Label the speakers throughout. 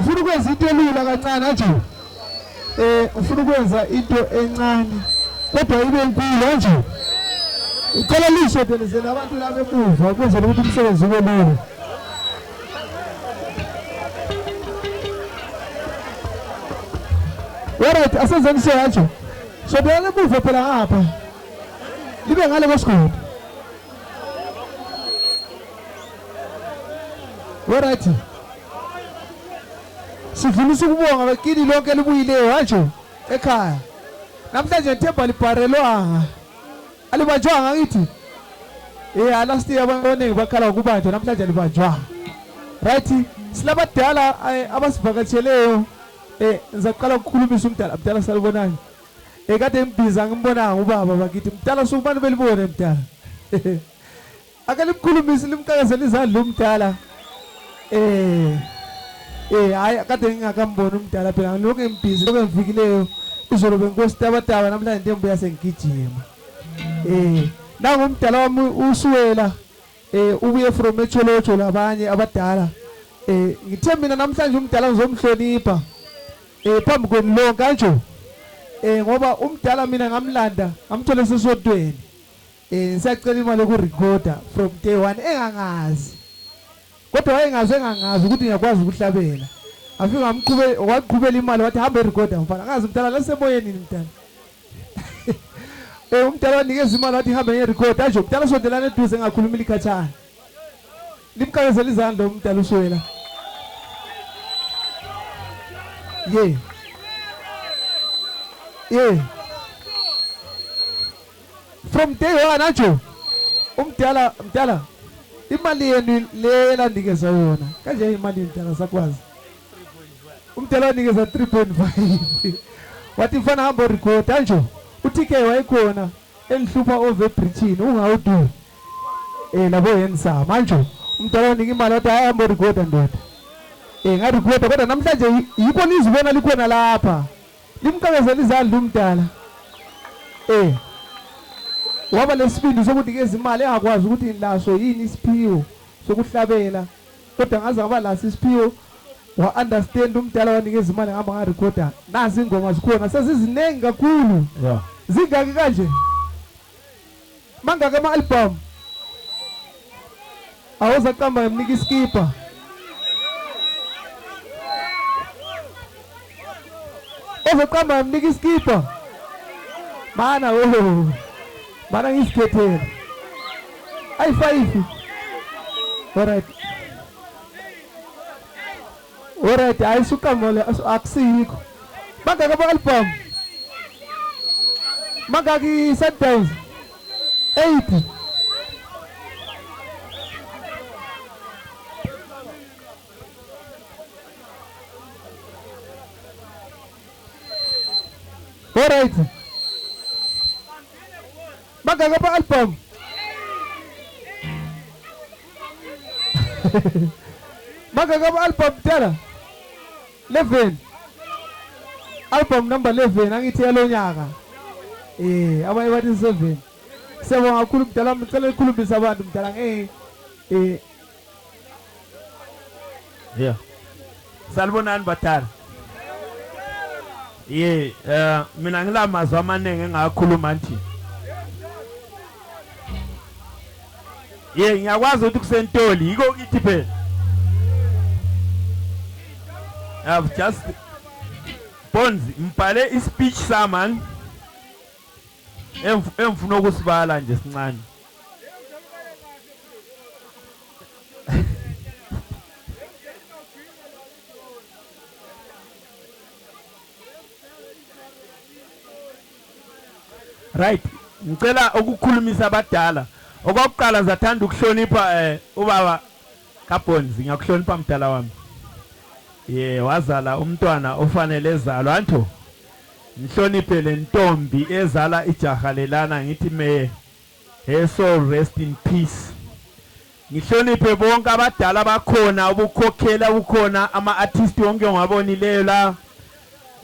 Speaker 1: Ufuna ukwenza into elula kancane kanjani? eh ufuna ukwenza into encane kodwa ibe nkulu kanje icela lisho delizele abantu laba emuva ukwenzela ukuthi umsebenzi ube lula Alright, asenzeni so kanje. So beyana emuva phela ngapha. Libe ngale kwesigodi. Alright. Sidlulisa ukubonga kini lonke elibuyileyo kanje ekhaya. Namhlanje ngithemba libharelwanga. Alibanjwanga ngithi. Eh last year abantu abaningi bakhala ukubanjwa namhlanje alibanjwanga. Right? Silabadala eh, abasivakatsheleyo. Eh ngizaqala ukukhulumisa umdala mdala salibonani. Eh kade ngibhiza ngimbonanga ubaba bakithi. Mdala sukumane belibone mdala. Ake limkhulumise limqakezela izandla umdala. Eh. Eh hayi kade ngingakamboni umdala phela ngilokhu ngibhizi lokho engifikileyo. Izolo benkosi taba taba namhlanje ntembuya sengigijima. Eh nangu umdala wami usuwela eh ubuye from echolocho labanye abadala. Eh ngithe mina namhlanje umdala ngizomhlonipha. Eh phambi kwenu lonke kanjalo. Eh ngoba umdala mina ngamlanda ngamthola sesodweni. Eh ngisacela imali yokurecorda from day one engangazi. Kodwa wayengazi engangazi ukuthi ngiyakwazi ukuhlabela. Afika ngamqhube waqhubela imali wathi hamba erecorda mfana. Ngazi mntana lasemoyeni yini mntana. Eh umntana wanikeza imali wathi hamba ngerecorda nje umntana sondelana eduze ngakhuluma ilikhathana. Limqakezela izandla umntana uswela. Yeah. Yeah. from day one anjo umdala mdala imali yenu le elandikezwa yona kanje imali mdala sakwazi umdala wanikeza 3.5 wathi mfana hamba record anjo uTK wayekhona engihlupha over bridgini ungawudu eh labo yenza manje umdala wanika imali wathi hamba record ndoda eh ngarecord kodwa namhlanje yikho nizibona likhona lapha Limqakezela izandla umdala. Eh. Waba nesibindi sokuthi ke izimali engakwazi ukuthi laso yini isiphiwo sokuhlabela. Kodwa ngaze ngaba laso isiphiwo wa understand umdala wanikeza imali ngihamba nga recorder. Nazi ingoma zikhona seziziningi kakhulu. Yeah. Zingaki kanje? mangaki ama-albhamu awuzaqamba ngamnika isikibha ozoqamba ngamnika isikibha mana wo mana ngisikhethele ayi-five olright Alright, hayi suqamole akusikho. Bangaka bo album. Bangaki Sundays. 8. Alright. Bangaki ama album? Bangaki ama album tela? 11. Album number 11 angithi yalonyaka. Eh, abanye bathi 7. Siyabonga kakhulu mdala, ngicela ukukhulumbisa abantu mdala ngeke eh
Speaker 2: Yeah. Salibonani badala. Ye, eh mina ngilamazwi amaningi engakhuluma nje. Ye, ngiyakwazi ukuthi kusentoli yiko kithi phela. I've just Bones mbhale ispeech saman engifuna ukusibala nje sincane. right ngicela ukukhulumisa abadala okwakuqala ngizathanda ukuhlonipha eh ubaba kaBonds ngiyakuhlonipha mdala wami ye wazala umntwana ofanele ezalwa anto ngihloniphe lentombi ezala ijaha lelana ngithi meye Her soul rest in peace. Ngihloniphe bonke abadala bakhona ubukhokhela kukhona ama artist wonke ongabonileyo la.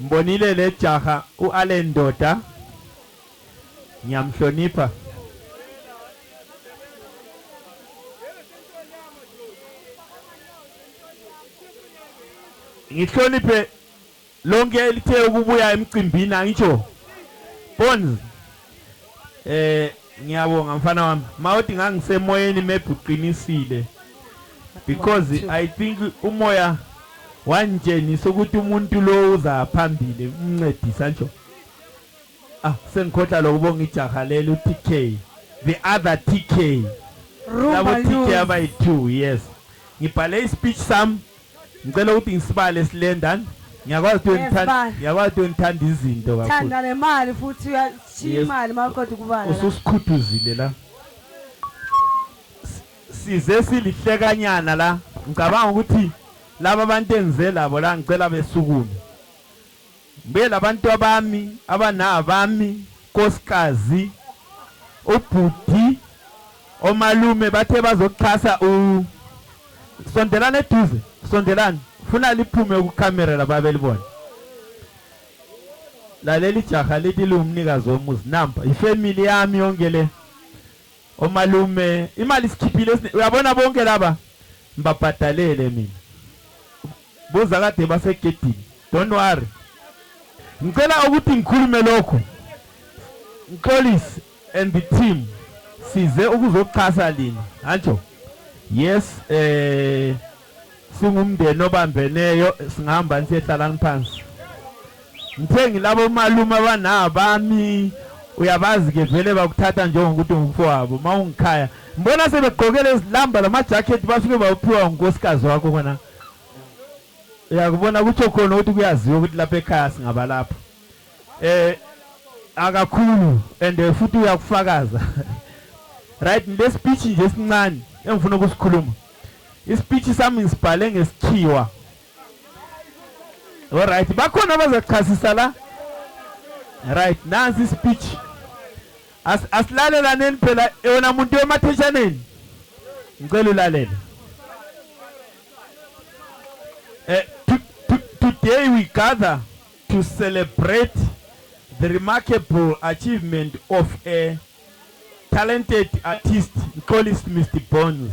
Speaker 2: Mbonile le jaha u Allen Ndoda. Ngiyamhlonipha. Ngihloniphe Lonke elithe ukubuya emcimbini angitsho. Bonz. Eh ngiyabonga mfana wami. Mawodi ngangisemoyeni maybe uqinisile. Because I think umoya wangitshengisa ukuthi umuntu lo uza phambili umncedisa nje. Ah sengikhohla lokubonga ijaha lelo TK. The other TK. Labo TK abayi2 yes. Ngibhale ispeech sami Ngicela ukuthi ngisibale slender. Ngiyakwazi ukuthi ngithanda ngiyakwazi ukuthi ngithanda izinto kakhulu. Thanda nemali futhi
Speaker 3: uyashiya imali mawuqeda ukubala. Ususikhuthuzile la.
Speaker 2: Size silihlekanyana la. Ngicabanga ukuthi laba bantu engize labo la ngicela besukume. Ngibuyele abantwabami abanabami nkosikazi ubhuti omalume bathe bazoxhasa u Sondelani eduze sondelani funa liphume ku camera lababe libone Lalela ijaha lithi liwumnikazi womuzi nampa ifamily yami yonke le omalume imali sikhiphile uyabona bonke laba ngibabhadalele mina Buza kade basegedini. Don't worry. Ngicela ukuthi ngikhulume lokhu. Ngixolise and the team size ukuzoxhasa lina. Hanjo. Yes eh singumndeni obambeneyo singihamba ngisehlala ngiphansi. Ngithe ngilabo malume abanabami uyabazi ke vele bakuthatha njengokuthi ngumfowabo mawungikhaya. Ngibona sebegqokele izilamba lama jacket basuke bawuphiwa unkosikazi wakho kona. Uyakubona kutho khona ukuthi kuyaziwa ukuthi lapha ekhaya singabalapha. Eh akakhulu and eh, futhi uyakufakaza. Right le speech nje sincane engifuna ukusikhuluma. Ispeech sami ngisibhale ngesikhiwa. All right bakhona abazachasisa la. Right nansi speech. As, asilalelaneni phela yona muntu yomatheshaneni ngicela ulalele eh, to, to, today we gather to celebrate the remarkable achievement of a talented artist Mxolisi Mr Bones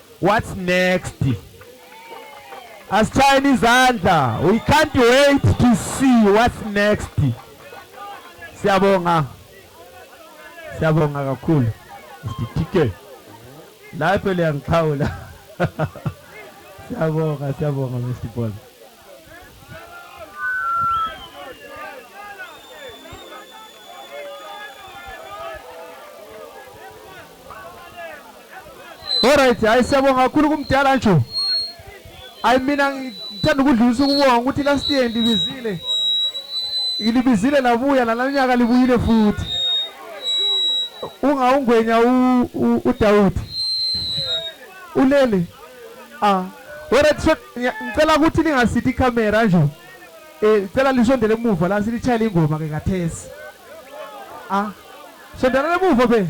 Speaker 2: What's next? Asitshayeni izandla. We can't wait to see what's next. Siyabonga. Siyabonga kakhulu. Sithike. Lapho liyangixhawula. Siyabonga, siyabonga Mr. Paul.
Speaker 1: Alright, hayi siyabonga kakhulu kumdala nje. Hayi mina ngithanda ukudlulisa ukubonga ukuthi last year ndibizile. Ngilibizile labuya nalanyaka libuyile futhi. Ungawungwenya u Dawudi. Ulele. Ah, wena tisho ngicela ukuthi lingasithi camera nje. Eh, ngicela lisondele emuva la silitshayile ingoma ke kathesi. Ah, sondela emuva be.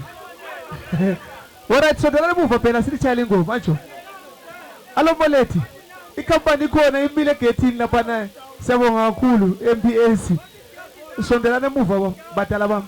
Speaker 1: Wena tisondela emuva phela silitshayile ingoma nje. Alo Molethi, ikampani ikhona imile egethini lapha naye. Siyabonga kakhulu MBAC. Sondelana emuva badala bami.